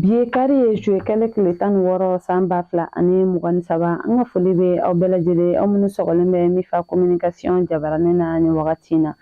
Bi ye kari ye juwe kalo tile tan ni wɔɔrɔ san ba fila ani mugan ni saba an ka foli bɛ aw bɛɛ lajɛlen aw minnu sɔgɔlen bɛ Mifa kominikasiɔn jabarani na ni wagati in na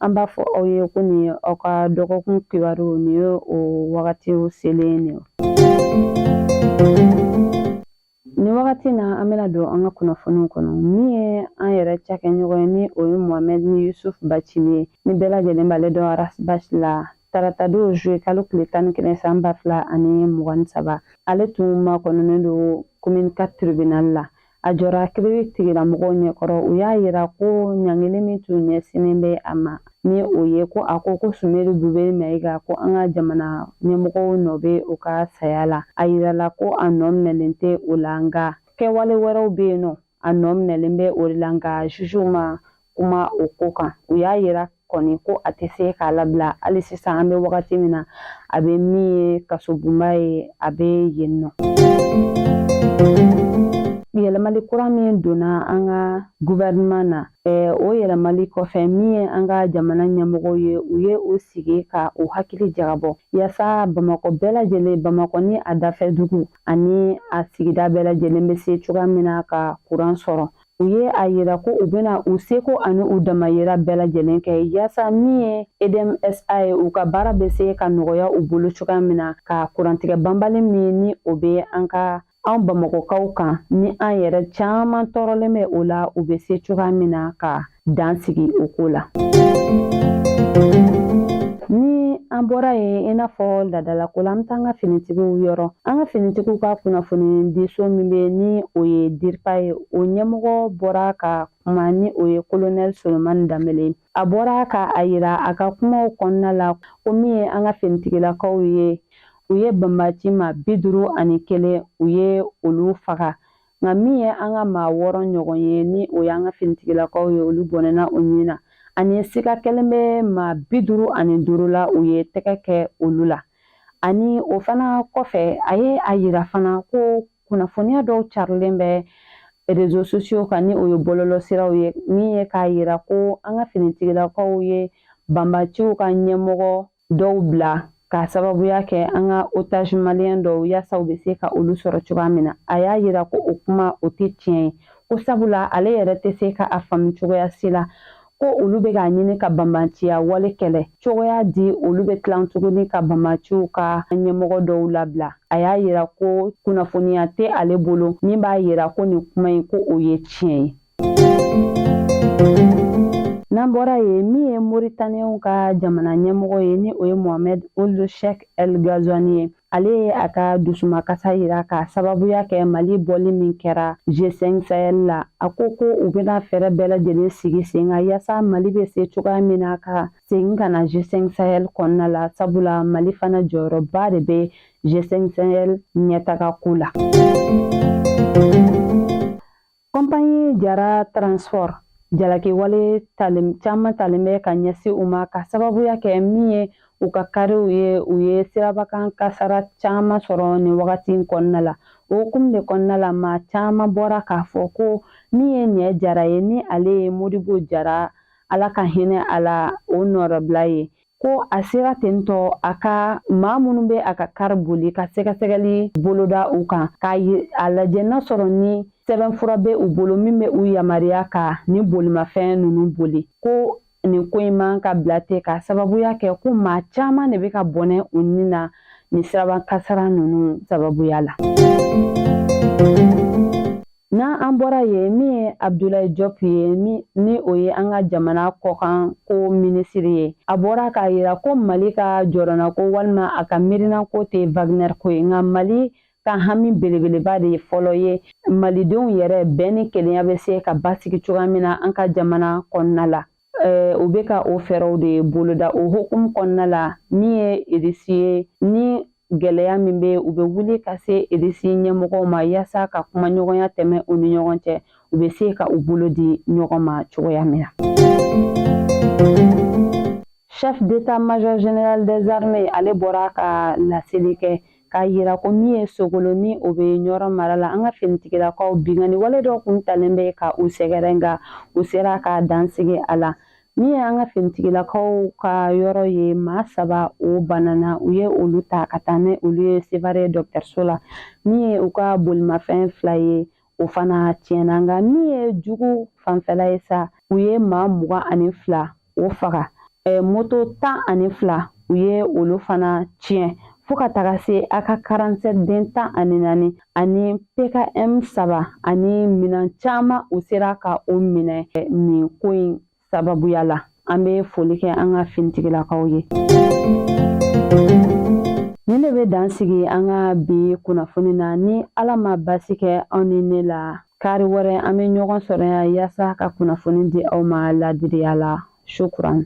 an b'a fɔ aw ye ko nin ye aw ka dɔgɔkun kibaru nin ye o wagati selen nin Ni wagati na an bɛna don an ka kunnafoniw kɔnɔ min ye an yɛrɛ cakɛɲɔgɔn ye ni o ye Mohamedi Yusuf Bacili ye ni bɛɛ lajɛlen b'ale dɔn Ras Bath la tarata don juwe kalo tile tan ni kelen san ba fila ani mugan ni saba ale tun makɔnɔnen don komini katri tiribinali la a jɔra kiiritigɛla mɔgɔw ɲɛkɔrɔ u y'a yira ko ɲangili min tun ɲɛsinnen bɛ a ma ni o ye ko a ko ko sumeyilu bube mayiga ko an ka jamana ɲɛmɔgɔw nɔ bɛ o ka saya la a yirala ko a nɔ minɛlen tɛ o la nka kɛwale wɛrɛw bɛ yen nɔ a nɔ minɛlen bɛ o de la nka juzuw ma kuma o ko kan u y'a yira kɔni ko a tɛ se k'a labila hali sisan an bɛ wagati min na a bɛ min ye kasobonba ye a bɛ yen nɔ yɛlɛmali kura min donna an ka guvɛrɛnman na o yɛlɛmali kɔfɛ min ye an ka jamana ɲɛmɔgɔw ye u ye u sigi ka u hakili jagabɔ yaasa bamakɔ bɛɛ lajɛlen bamakɔ ni a dafɛ dugu ani a sigida bɛɛ lajɛlen bɛ se cogoya min na ka kuran sɔrɔ u ye a yira ko u bɛna u seko ani u damayira bɛɛ lajɛlen kɛ yaasa min ye EDM SA ye u ka baara bɛ se ka nɔgɔya u bolo cogoya min na ka kurantigɛ banbali min ni o bɛ an ka an bamakɔkaw kan ni an yɛrɛ caman tɔɔrɔlen bɛ o la u bɛ se cogoya min na ka dan sigi o ko la ni an bɔra yen i n'a fɔ laadalako la an bɛ taa an ka finitigiw yɔrɔ an ka finitigiw ka kunnafonidiso min bɛ ni o ye diripa ye o ɲɛmɔgɔ bɔra ka kuma ni o ye kolonɛli solomani danbele a bɔra ka a yira a ka kumaw kɔnɔna la ko min ye an ka finitigilakaw ye u ye banbaci maa bi duuru ani kelen u ye olu faga nka min ye an ka maa wɔɔrɔ ɲɔgɔn ye ni o y'an ka finitigilakaw ye olu bɔnɛna u nin na ani sika kɛlen bɛ maa bi duuru ani duuru la u ye tɛgɛ kɛ olu la ani o fana kɔfɛ a ye a yira fana ko kunnafoniya dɔw carilen bɛ rezo sosiyo kan ni o ye bɔlɔlɔsiraw ye min ye k'a yira ko an ka finitigilakaw ye banbaciw ka ɲɛmɔgɔ dɔw bila k'a sababuya kɛ an ka otazi maliyɛn dɔw yaasa u bɛ se ka olu sɔrɔ cogoya min na a y'a yira ko o kuma o tɛ tiɲɛ ye ko sabula ale yɛrɛ tɛ se ka a faamu cogoya si la ko olu bɛ k'a ɲini ka banbanciya wale kɛlɛ cogoya di olu bɛ tilan tuguni ka banbanciw ka ɲɛmɔgɔ dɔw labila a y'a yira ko kunnafoniya tɛ ale bolo min b'a yira ko nin kuma in ko o ye tiɲɛ ye n'an bɔra yen min ye moritaniyɛnw ka jamana ɲɛmɔgɔ ye ni o ye mohamɛd uld sheikh el gazwani ye ale ye a ka dusumakasa yira k'a sababuya kɛ mali bɔli min kɛra g5 sahel la a ko ko u bɛna fɛɛrɛ bɛɛ lajɛlen sigi sen kan yaasa mali bɛ se cogoya min na ka segin ka na g5 sahel kɔnɔna la sabula mali fana jɔyɔrɔba de bɛ g5 sahel ɲɛtaga ko la compagnie jara transport jalakiwale caman talen bɛ ka ɲɛsin u ma ka sababuya kɛ min ye u ka kariw ye u ye sirabakan kasara caman sɔrɔ nin wagati kɔnɔna la o hukumu de kɔnɔna la maa caman bɔra k'a fɔ ko min ye nɛ jara ye ni ale ye modibo jara ala ka hinɛ a la o nɔrɔbila ye ko a sera tentɔ a ka maa minnu bɛ a ka kari boli ka sɛgɛsɛgɛli boloda u kan k'a lajɛ n'a sɔrɔ ni sɛbɛnfura bɛ u bolo min bɛ u yamaruya ka nin bolimafɛn ninnu boli ko nin ko in man ka bila ten ka sababuya kɛ ko maa caman de bɛ ka bɔnɛ u ni na nin siraba kasara ninnu sababuya la. N'an bɔra yen min ye Abdulaye Diop ye ni o ye an ka jamana kɔkan ko minisiri ye, a bɔra k'a yira ko Mali ka jɔrɔnako walima a ka miirinako tɛ Wagner ko ye, nka Mali ka hami belebeleba de ye fɔlɔ ye Malidenw yɛrɛ bɛn ni kelenya bɛ se ka basigi cogoya min na an ka jamana kɔnɔna la. Eh, o bɛ ka o fɛɛrɛw de boloda o hukumu kɔnɔna la min ye irisi ye ni gɛlɛya min bɛ u bɛ wuli ka se irisi ɲɛmɔgɔw ma yaasa ka kuma ɲɔgɔnya tɛmɛ u ni ɲɔgɔn cɛ u bɛ se ka u bolo di ɲɔgɔn ma cogoya min na. chef d'état major général des armées ale bɔra ka laseli kɛ k'a yira ko min ye sogolo ni o bɛ ɲɔrɔ mara la an ka finitigilakaw binkanni wale dɔ kun talen bɛ ka u sɛgɛrɛ nka u sera ka dansigi a la min ye an ka finitigilakaw ka yɔrɔ ye maa saba o banana u ye olu ta ka taa ni olu ye sevare dɔgɔtɔrɔso la min ye u ka bolimafɛn fila ye o fana tiɲɛna nka min ye jugu fanfɛla ye sa u ye maa mugan ani fila o faga eh, moto tan ani fila u ye olu fana tiɲɛ fo ka taga se ak 47 den tan ani naani ani pkm saba ani minan caman u sera ka o minɛ eh, nin ko in sababuya la an bɛ foli kɛ an ka finitigilakaw ye nin de bɛ dan sigi an ka bi kunnafoni na ni ala ma basi kɛ aw ni ne la kari wɛrɛ an bɛ ɲɔgɔn sɔrɔ yan yaasa ka kunnafoni di aw ma ladiriya la shukran